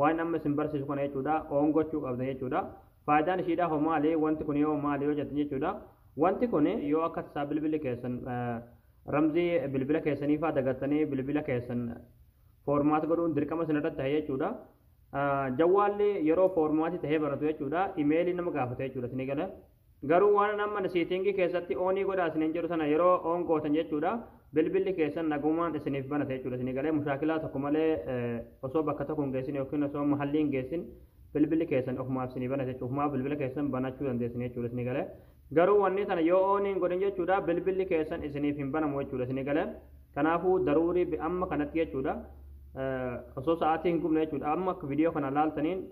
waan amma isin barsiisu kana jechuudha oon gochuu qabda jechuudha faayidaan ishiidha hoo maali wanti kun yoo maali yoo jettan jechuudha wanti kun yoo akka tasaa bilbilli keessan ramzii bilbila keessanii faa dagattanii bilbila keessan foormaat godhuun dirqama isin irratti ta'e jechuudha jawwaalli yeroo foormaatii ta'ee banatu jechuudha imeelii nama gaafata jechuudha isin gala Garuu waanan amma seetingii keessatti oonii godhaa isiniin jedhu sana yeroo oon gootan jechuudha bilbilli keessan nagumaan isiniif banata jechuudha isinii galee mushaakilaa tokko malee osoo bakka tokko hin geessin yookiin osoo mahallii hin geessin bilbilli keessan ofumaaf isinii banata jechuudha ofumaaf bilbila keessan banachuu dandeessin jechuudha isinii galee garuu wanni sana yoo oonii hin godhin jechuudha bilbilli keessan isiniif hin banamu jechuudha isinii galee kanaafuu daruurii amma kanatti jechuudha osoo sa'aatii hin gubne jechuudha amma viidiyoo kana laaltaniin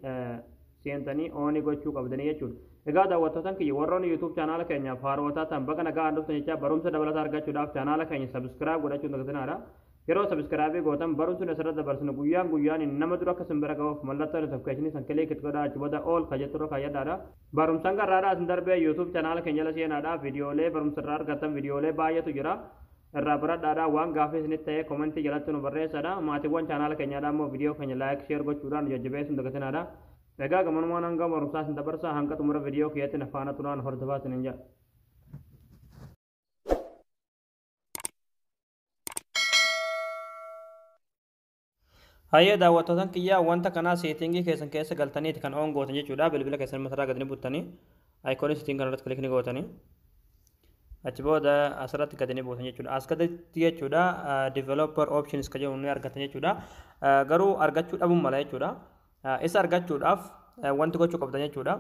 seentanii ooni gochuu qabdanii jechuudha. Egaa daawwattootan kiyya warroonni YouTube chaanaala keenyaaf haaroo taatan baga nagaan dhuftan jechaa barumsa dabalataa argachuudhaaf chaanaala keenya subscribe godhachuun dagatinaa Yeroo subscribe gootan barumsi nuti asirratti dabarsinu guyyaan guyyaan nama dura akka isin bira gahuuf mallattoo notification isin kilik itti godhaa achi booda all ka jettu irra kaayyadhaadha. Barumsan garraadhaa isin darbee YouTube chaanaala keenya jala seenaadhaa viidiyoolee barumsa irraa argattan viidiyoolee baay'eetu jira. irraa baradhaadha waan gaafii isinitti ta'ee komentii jalatti nu barreessadha maatiiwwan chaanaala keenyaadha immoo viidiyoo keenya laayik sheer gochuudhaan nu jajjabeessuun dagatinaadha egaa gamanumaan hanga barumsaa isin dabarsaa hanga xumura viidiyoo kiyyaatti na faana turaan hordofaa isinin jedha Hayyee daawwattootan kiyyaa wanta kanaa seetingii keessan keessa galtaniiti kan oon gootan jechuudha. Bilbila keessan matarraa gad ni buttanii ayikoonii seeting kanarratti kilik ni gootanii. Achi booda asirratti gad ni buutan jechuudha. As gaditti jechuudha developer options ka jedhu ni argatan jechuudha. Garuu argachuu dhabuun mala jechuudha. Isa argachuudhaaf wanti gochuu qabdan jechuudha.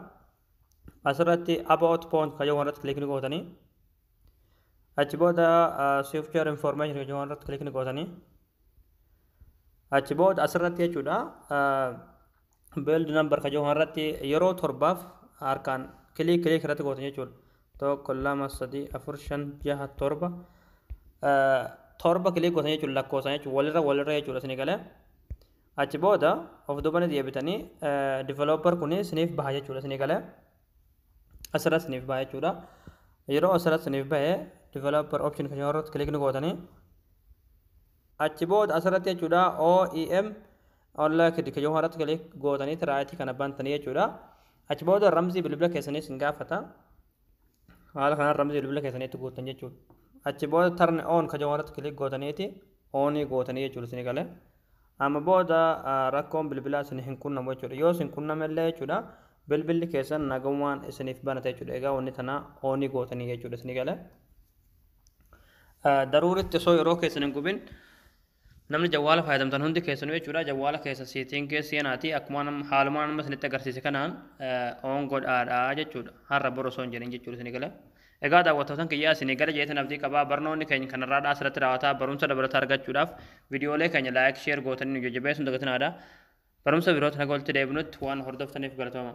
Asirratti about point ka jedhu irratti kilik ni gootanii. Achi booda software information kan jedhamu irratti kilikni gootanii achi booda asirratti jechuudha build number kan jedhamu irratti yeroo torbaaf harkaan kilik kilik irratti gootan jechuudha. Tokko lama sadii afur shan jaha torba torba kilik gootan jechuudha lakkoofsan jechuudha walirra walirra jechuudha isinii galee achi booda of duubanii deebitanii developer kun isiniif baha jechuudha isinii galee. asirra isiniif ba'a jechuudha. Yeroo asirra isiniif ba'e developer option kan irratti click ni gootanii achi booda asirratti jechuudha OEM online kid kan irratti click gootanii tiraayitii kana bantanii jechuudha. Achi booda ramzii bilbila keessanii isin gaafata. Haala kanaan ramzii bilbila keessanii itti guutan jechuudha. Achi booda turn on kan irratti click gootaniiti onii gootanii jechuudha isin galee. Amma booda rakkoon bilbilaa isin hin qunnamu jechuudha. Yoo isin qunname illee jechuudha bilbilli keessan nagamumaan isiniif banata jechuudha. Egaa wanni tana oonii gootanii jechuudha isinii gale. Daruuritti osoo yeroo keessan hin gubin namni jawwaala fayyadamtan hundi keessanuu jechuudha jawwaala keessa siitingii seenaatii akkuma haaluma nama isinitti agarsiise kanaan oon godhaadha jechuudha. Har'a bor osoo hin jedhin jechuudha isinii gale. Egaa daawwattootan kiyyaa isinii gala jeetan abdii qaba. Barnoonni keeny kan har'aadhaa asirratti raawata. Barumsa dabalataa argachuudhaaf vidiyoolee keenya like, share gootanii nu jajjabeessuun dagatinaadha. Barumsa birootin haga walitti deebinutti waan hordoftaniif galatooma.